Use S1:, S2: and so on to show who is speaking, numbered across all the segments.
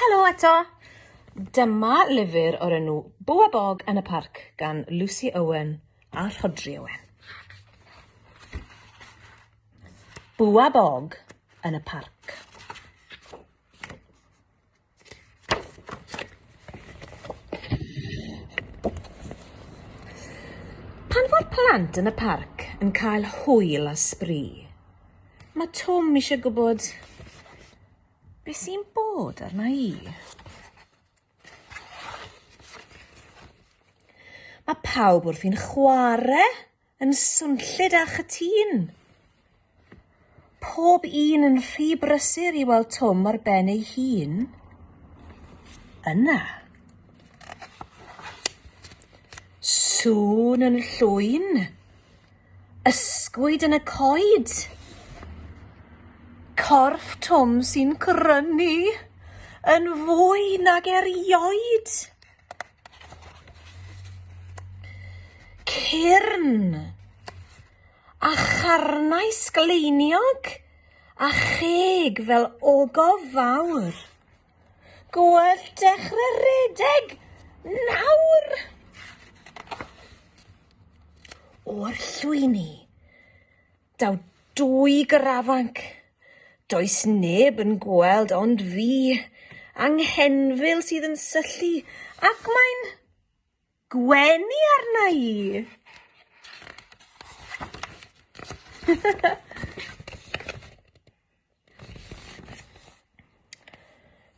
S1: Helo eto! Dyma lyfr o'r enw Bw a Bog yn y Parc gan Lucy Owen a Rhodri Owen. Bw a Bog yn y Parc. Pan fo'r plant yn y parc yn cael hwyl a sbri, mae Twm eisiau gwybod beth sy'n bod arna i. Mae pawb wrthi'n chwarae yn swnllyd a chytûn. Pob un yn rhy brysur i weld Twm ar ben ei hun. Yna. Sŵn yn llwyn. Ysgwyd yn y coed. Corff Twm sy'n crynu yn fwy nag erioed. Cyrn! A charnau sgleiniog a cheg fel ogof fawr. Gwell dechre redeg nawr! O'r llwyni. Daw dwy grafanc, does neb yn gweld ond fi, a 'Nghenfil sydd yn syllu, ac mae'n gwenu arna i!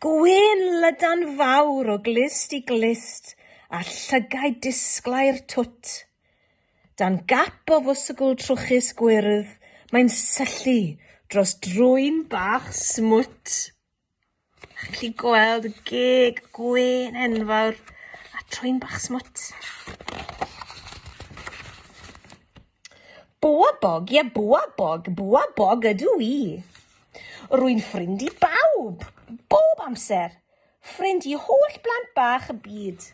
S1: Gwên lydan fawr o glust i glust a llygaid disglair twt. Dan gap o fwswgl trwchus gwyrdd mae'n syllu dros drwyn bach smwt. Chi'n gallu gweld y geg gwên enfawr a trwyn bach smwt. Bwa bog, ie bwa bog, bwa bog ydw i. Rwy'n ffrind i bawb, bob amser. Ffrind i holl blant bach y byd.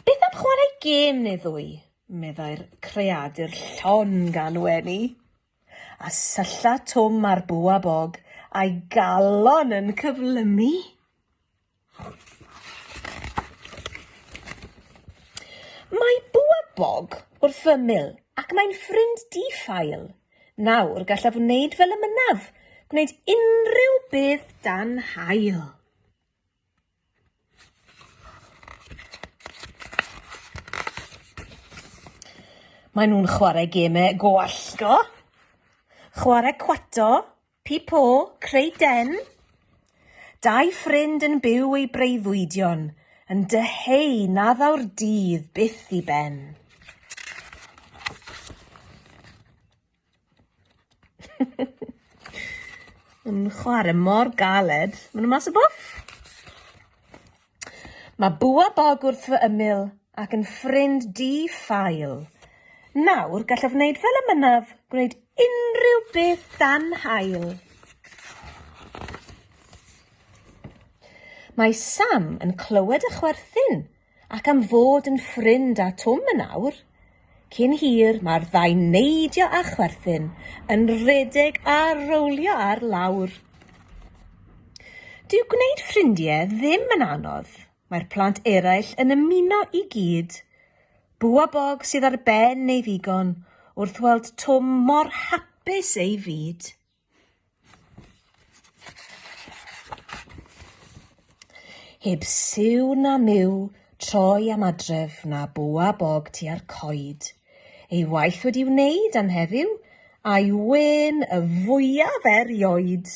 S1: Beth am chwarae gêm neu ddwy? meddai'r creadur llon gan wenu, a sylla Twm ar bwa bog a'i galon yn cyflymu. Mae bwa bog wrth fy ymyl ac mae'n ffrind di-ffael. Nawr, gallaf wneud fel y mynaf, gwneud unrhyw beth dan hael. Maen nhw'n chwarae gemau go allgo, chwarae cwato, Pipo, creu den? Dau ffrind yn byw eu breuddwydion, yn dyheu na ddaw'r dydd byth i ben. Yn chwarae mor galed. Maen nhw mas o bwll. Mae bwa bog wrth fy ymyl ac yn ffrind di-ffael. Nawr gallaf wneud fel y mynaf, gwneud unrhyw beth dan hael. Mae Sam yn clywed y chwerthin ac am fod yn ffrind â Twm yn awr, Cyn hir, mae'r ddau'n neidio a chwerthin, yn rhedeg a rowlio ar lawr. Dyw gwneud ffrindiau ddim yn anodd. Mae'r plant eraill yn ymuno i gyd. Bu a Bog sydd ar ben ei ddigon wrth weld Twm mor hapus ei fyd. Heb siw na miw, troi am adref na bwa bog tua'r coed. Ei waith wedi wneud am heddiw, a'i wên y fwyaf erioed.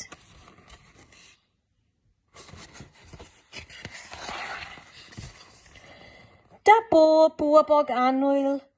S1: Da bob bwa bog annwyl,